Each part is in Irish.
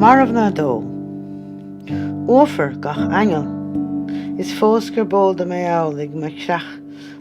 Marbhna 2 Uafar gach aingeal Is fós gurb eol dom é amhlaidh, mo chreach.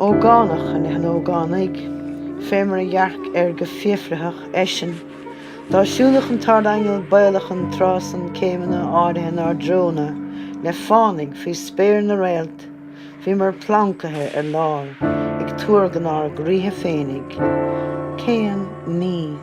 Ógánach i leith an ógánaigh, fé mar a dhearc air go fiafraitheach, eisean, dá siúlfadh an tArdaingeal baolach an tráth san céimeanna áirithe inár dtreo-na le fánaidh faoi spéir na réalt, bhíomar plancaithe ar lár ag tuargain ár gcroíthe féinig. Cén ní.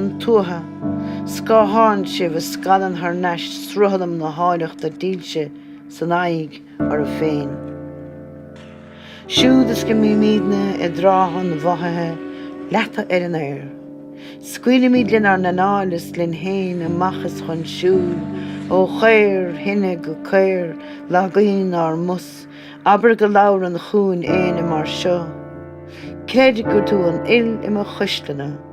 an tuatha, scátháin sibh a scalann thar n-ais sruthlam na háilleachta dílse san aghaidh oraibh féin. Siúd is go mbímídne i dtráth an mhothaithe leata ar an aer, scaoilimid lenár n-anáil is linn féin amach is chun siúil ó chaor thine go caor lagaíonn ár mos. Abair go labhrann chugainn éinne mar seo, Creid gur tú an fhuil i mo chuisleanna.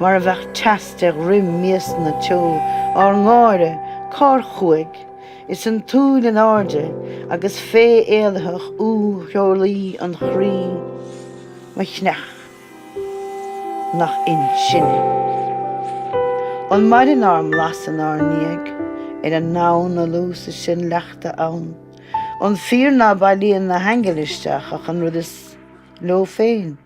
Mar a bheadh teas de dhroim miasanna teo ár ngáire, cár chuaigh? Is an tsúil in airde agus féith éalaitheach úr theolaí an chroí, mo chreach nach in sinne. An maireann ár mblas inár ndiaidh? Ar an ndomhan na lú sa sinn leachta ann? An fíor ná bailíonn na haingil isteach ach an rud is. leo féin,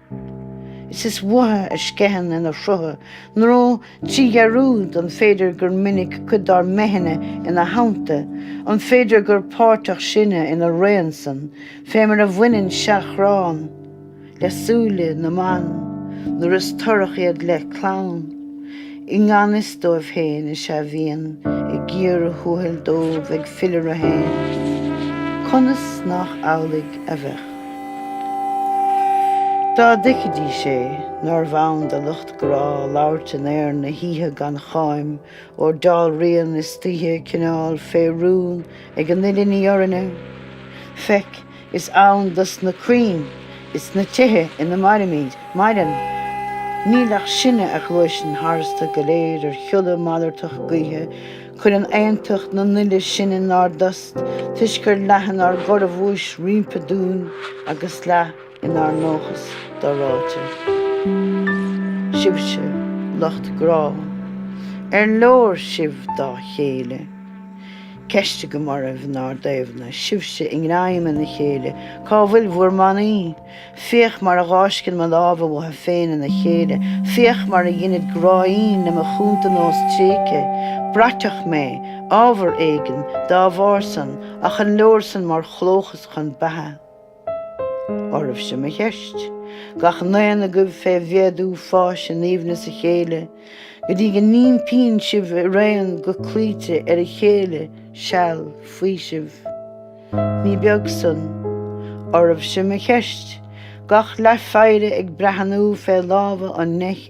is is uathu a sceitheann ina shrutha, nó trí dhearúd, an féidir gur minic cuid dár mbeithne ina theannta, an féidir gur páirteach sinne ina raon san, fé mar a bhaineann seachrán le súile na mban nuair is torrach iad le clann? I ngan fhios dóibh féin is ea bhíonn i gcíor thuathail dóibh ag filleadh orthu féin, conas nách amhlaidh a bheadh, dá dtuigfidís é, nárbh ann do lucht grá labhairt in aer na hoíche gan cháim, óir dealraíonn istoíche cineál fé rún ag an uile ní orainne? Feic. Is ann do sna crainn is na tithe ina mairimid, maireann. Níl ach sinne a ghluaiseann tharstu go léir ar shiolla malartach gaoithe, cuireann aontacht na n-uile sinn inár dtost toisc gur leath inár gcorrabhuais roimpi dúinn agus leath inár ndóchas do-ráite. Sibhse, lucht grá, ar leor sibh dá chéile? ceist agam oraibh inár dtaobhna, sibhse i ngreim ina chéile, cá bhfuil bhur mbannaí? Féach mar a dh'fháisceann mo lámha uathu féin ina chéile, féach mar a dheinid gráín le mo chúntanós tréigthe. Braiteach mé, ábhar éigin, dá bharr san, ach an leor san mar chlóchas chun beatha? oraibhse mo cheist. Gach n-aon agaibh fé mhéadú fáis in aoibhneas a chéile, go dtí go n-ímpíonn sibh araon go cloíte ar a chéile seal faoisimh. Ní beag san. Oraibhse mo cheist. Gach leathpheidhre ag breathnú fé lámha an neich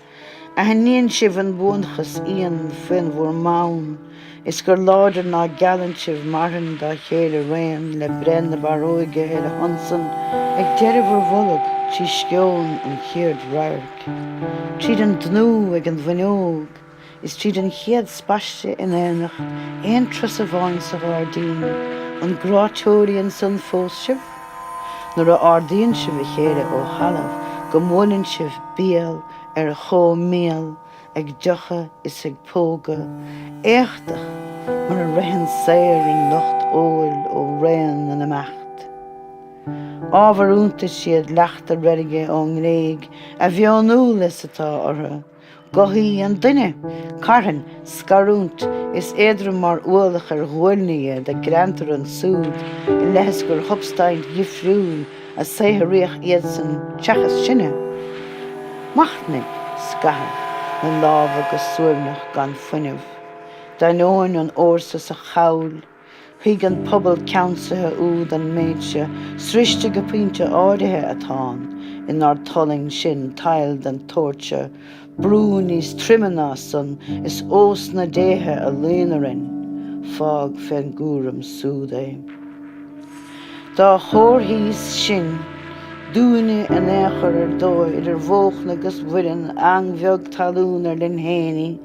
Aithníonn sibh an buanachas íon faoin bhur mbonn, Is gur láidir ná geallann sibh marthain dá chéile 'raon, Le breith na barróige ar a shon san ag deireadh bhur bhfulag, Trí sceon an chéad radhairc, tríd an dtnúth ag an bhfuinneog, Is tríd an chéad spaiste in aonacht, aon turas amháin sa ghairdín, an gráthóirí ansan fós sibh? nuair a ardaíonn sibh a chéile ó thalamh go mbuaileann sibh béal ar chomhbhéal ag deochadh is ag pógadh éachtach mar a ritheann saor an lucht óil ó raon na n-imeacht. Ábhar iontais iad leachta reilge ón nGréig a mheonúla is atá orthu, gothaí an duine, carthain, scarúint, is éadrom mar ualach ar ghuailne iad a greantar ansúd i leith is gur shubstaint dhifriúil a saothraíodh iadsan seachas sinne. Machnaigh, scaitheamh, na lámha go suaimhneach gan fuinneamh, d'ainneoin an fhórsa sa chabhail, Thuig an pobal ceannsaithe úd an méid seo, Sroichte go pointe áirithe atáim inár dtualaing sin tadhall den tsórt seo, brú níos troime ná san, is ós na déithe a luíonn orainn, fág féna gcúram súd é. Dá gcomharthaídís sin dúinne in aon chor ar dóigh idir bhóchna 'gus bhoirinn, eang bheag talún ar linn fhéin í,